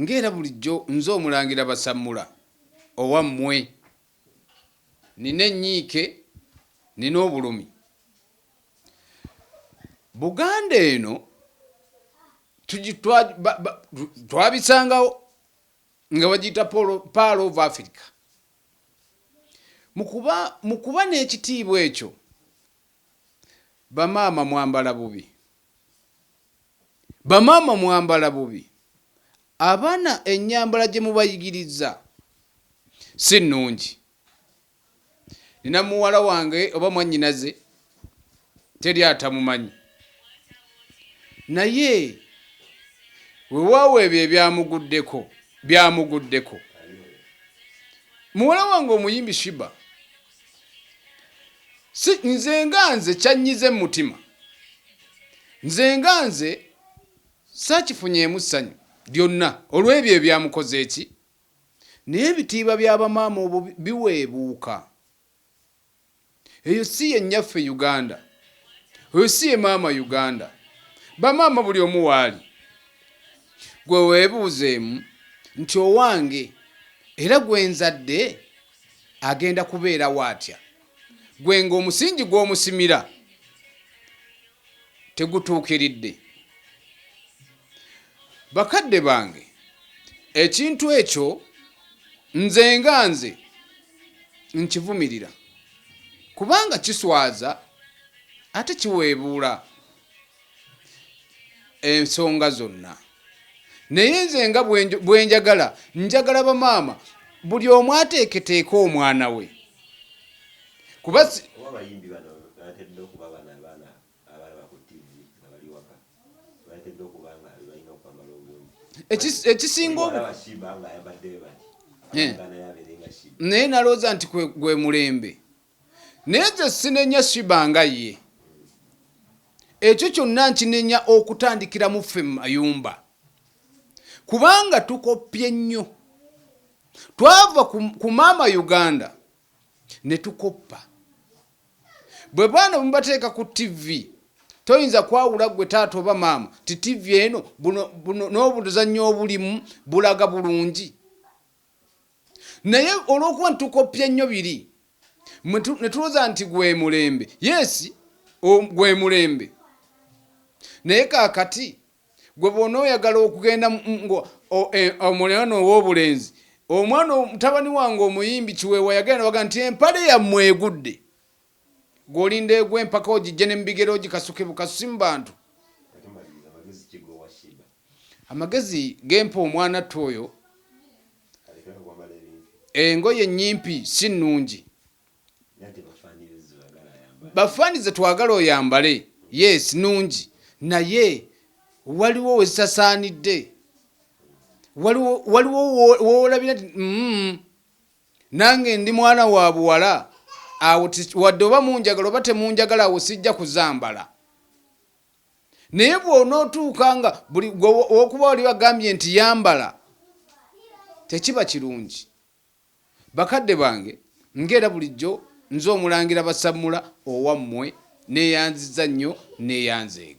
Nga era bulijjo nze Omulangira Basammula owammwe, nnina ennyiike, nnina obulumi. Buganda eno twabisangawo nga bagiyita Pearl of Africa. Mu kuba n'ekitiibwa ekyo, bamaama mwambala bubi. Bamaama mwambala bubi, abaana ennyambala gye mubayigiriza si nnungi. Nnina muwala wange oba mwannyinaze teri atamumanyi naye wewaawo ebyo ebyamuguddeko byamuguddeko. Muwala wange omuyimbi Shiba si nze nga nze kyannyiza emmutima nze nga nze saakifunyeemu ssanyu lyonna olw'ebyo ebyamukoze ki naye ebitiiba bya bamaama obwo biweebuuka eyo si ye nnyaffe uganda oyo si ye maama uganda bamaama buli omu waali gwe weebuuzeemu nti owange era gwe nzadde agenda kubeerawo atya gwe ng'omusingi gw'omusimira tegutuukiridde bakadde bange ekintu ekyo nze nga nze nkivumirira kubanga kiswaza ate kiweebuula ensonga zonna naye nze nga bwenjagala njagala bamaama buli omu ateeketeeka omwana we kuba ekisinga naye nalowooza nti gwe mulembe Naye nze sinenya Shiba nga ye. Ekyo kyonna nkinenya okutandikira mu ffe mu mayumba. Kubanga tukoppye nnyo. Twava ku maama Uganda ne tukoppa. Bwe baana bwe mubateeka ku ttivi toyinza kwawula ggwe taata oba maama nti ttivi eno n'obuzannyo obulimu bulaga bulungi. naye olwokuba nti tukoppye nnyo biri ne tulowooza nti gwe mulembe yes gwe mulembe naye kakati gwe bona oyagala okugenda e, omulwana ow'obulenzi omwana mutabani wange omuyimbi kiweewa yagenda baga nti empale yammwe egudde Gwe olinda egwe empaka ogijje ne mubigere ogikasuke bukasusi mu bantu. Amagezi gempa omwanattu oyo engoye nyimpi si nnungi. Bafaani ze twagala oyambale yes nungi naye waliwo wezisasaanidde waliwo waliwo wowolabira mm, Nange ndi mwana wa buwala awo wadde oba munjagala oba temunjagala awo sijja kuzambala. Naye bw'onootuuka nga buli okuba wali bagambye nti yambala tekiba kirungi. Bakadde bange ng'era bulijjo nze Omulangira Basammula owammwe neeyanzizza nnyo neeyanzeege.